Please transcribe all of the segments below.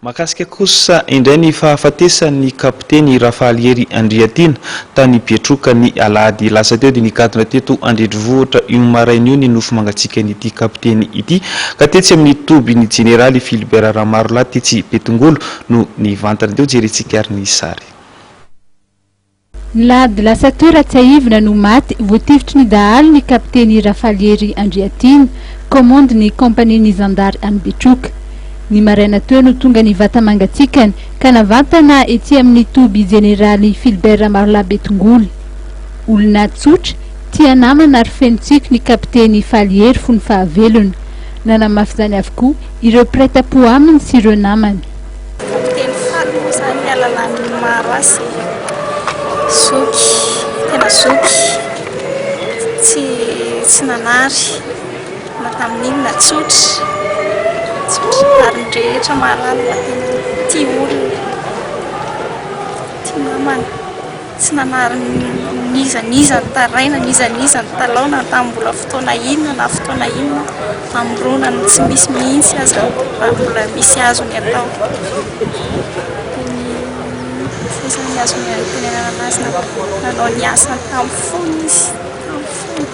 Mahakasika kosa indray ny fahafatesan'ny kapiteny Rafahalihery Andriatiana, tany Betroka, ny alahady lasa teo, dia nigadona teto an-drenivohitra io maraina io ny nofo mangatsiakan'ity kapiteny ity, ka tetsy amin'ny toby ny jeneraly Philibert Ramarolahy tetsy Betongolo no nivantana. Dia hojerentsika ary ny sary. Nilahady lasa toy Ratsiahivina no maty voatifitry ny dahalo ny kapiteny Rafaliery Andriatiana, kaomandy ny kaompania ny zandary any Betroka. Ny maraina teo no tonga ny vata mangatsiakany ka navantana etsy amin'ny toby jeneraly Philbert Ramarolahy Betongolo. Olona tsotra, tia namana ary feno tsiky ny kapiteny Faliery fony fahavelony. Nanamafy izany avokoa ireo mpiray tampo aminy sy ireo namany. Kapiteny Fano moa izany ny ahalalany ny maro azy. Zoky, tena zoky, tsy tsy nanary na tamin'inona na tsotra, tsotra ary ny rehetra mahalala fa tena tia olona, tia namana. Tsy nanary n'iza n'iza nitaraina, n'iza n'iza nitalaona, tamin'ny mbola fotoana inona na fotoana inona, hamorona ny tsy misy mihitsy aza raha mbola misy azony atao. Izay izany azony antenainana azy nanao ny asany tamin'ny fony izy, tamin'ny fony.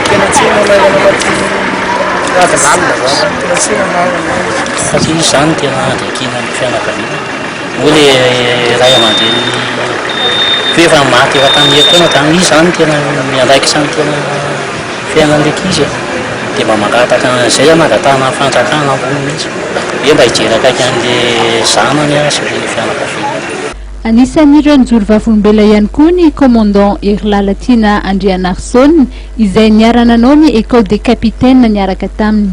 Tena tsy heno anarana amat'i Rada lalina zany. Tena tsy heno anarana. Fa tsy misy zany tena andriakiana ny fianakaviana. Moa le ray aman-dreny toa efa maty efa tamin'ny herintaona zany izy zany tena miandraikitra ny tena fiainan'ilay ankizy e. Dia mba mangataka an'izay hanangatahana ny fanjakana ambony mihitsy hoe mba hijery akaiky an'ilay zanany sy ilay fianakaviany. Anisan'ireo nijoro vavolombelona ihany koa ny Commandant Hery Lalatiana Andrianarison izay niara-nanao ny Ecole des Capitaines niaraka taminy.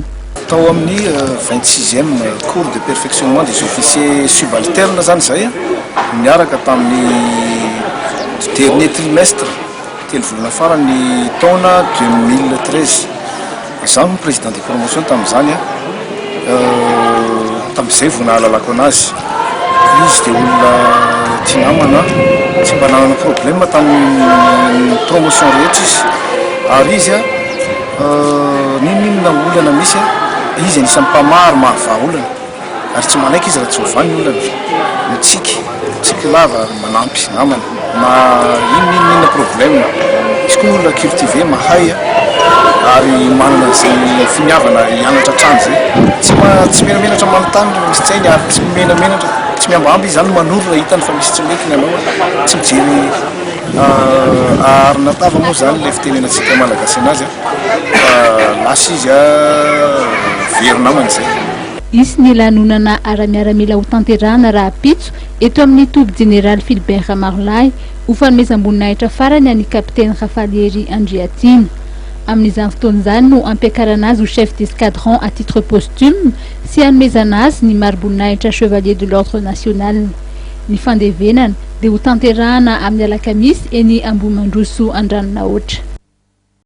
Tao amin'ny vingt sixième cours de perfectionnement des officiers subalternes izany izay niaraka tamin'ny dernier trimestre, telo volana faran'ny taona deux mille treize. Izaho no président de promotion tamin'izany an, tamin'izay vao nahalalako an'azy, izy dia olona tia namana, tsy mba nanana problème tamin'ny promotion rehetra izy, ary izy an, n'inon'inona olana misy an, izy anisan'ny mpamaro maha vahaolana. Ary tsy manaiky izy raha tsy ho vahy ny olana. Mitsiky, mitsiky lava ary manampy namany na inona inona inona problème. Misy koa ny olona cultivé, mahay ary manana izay finiavana ary hianatra hatrany izay. Tsy ma- tsy menamenatra manontany raha misy tsy hainy ary tsy menamenatra, tsy mihambahamba izy izany manoro raha hitany fa misy tsy mety ny anao. Tsy mijery aharina tava moa izany ilay fitenenantsika Malagasy anazy fa lasa izy very namany izay. Hisy ny lanonana ara-miaramila hotanterahana rahampitso eto amin'ny toby Jeneraly Philbert Ramarolahy, ho fanomezam-boninahitra farany an'i Kapiteny Rafalihery Andriatiana. Amin'izany fotoana izany no hampiakarana azy ho Chef d'Escadron à titre posthume sy hanomezana azy ny mari-boninahitra Chevalier de l'Ordre National. Ny fandevenana dia hotanterahana amin'ny alakamisy eny Ambohimandroso Andranonahoatra.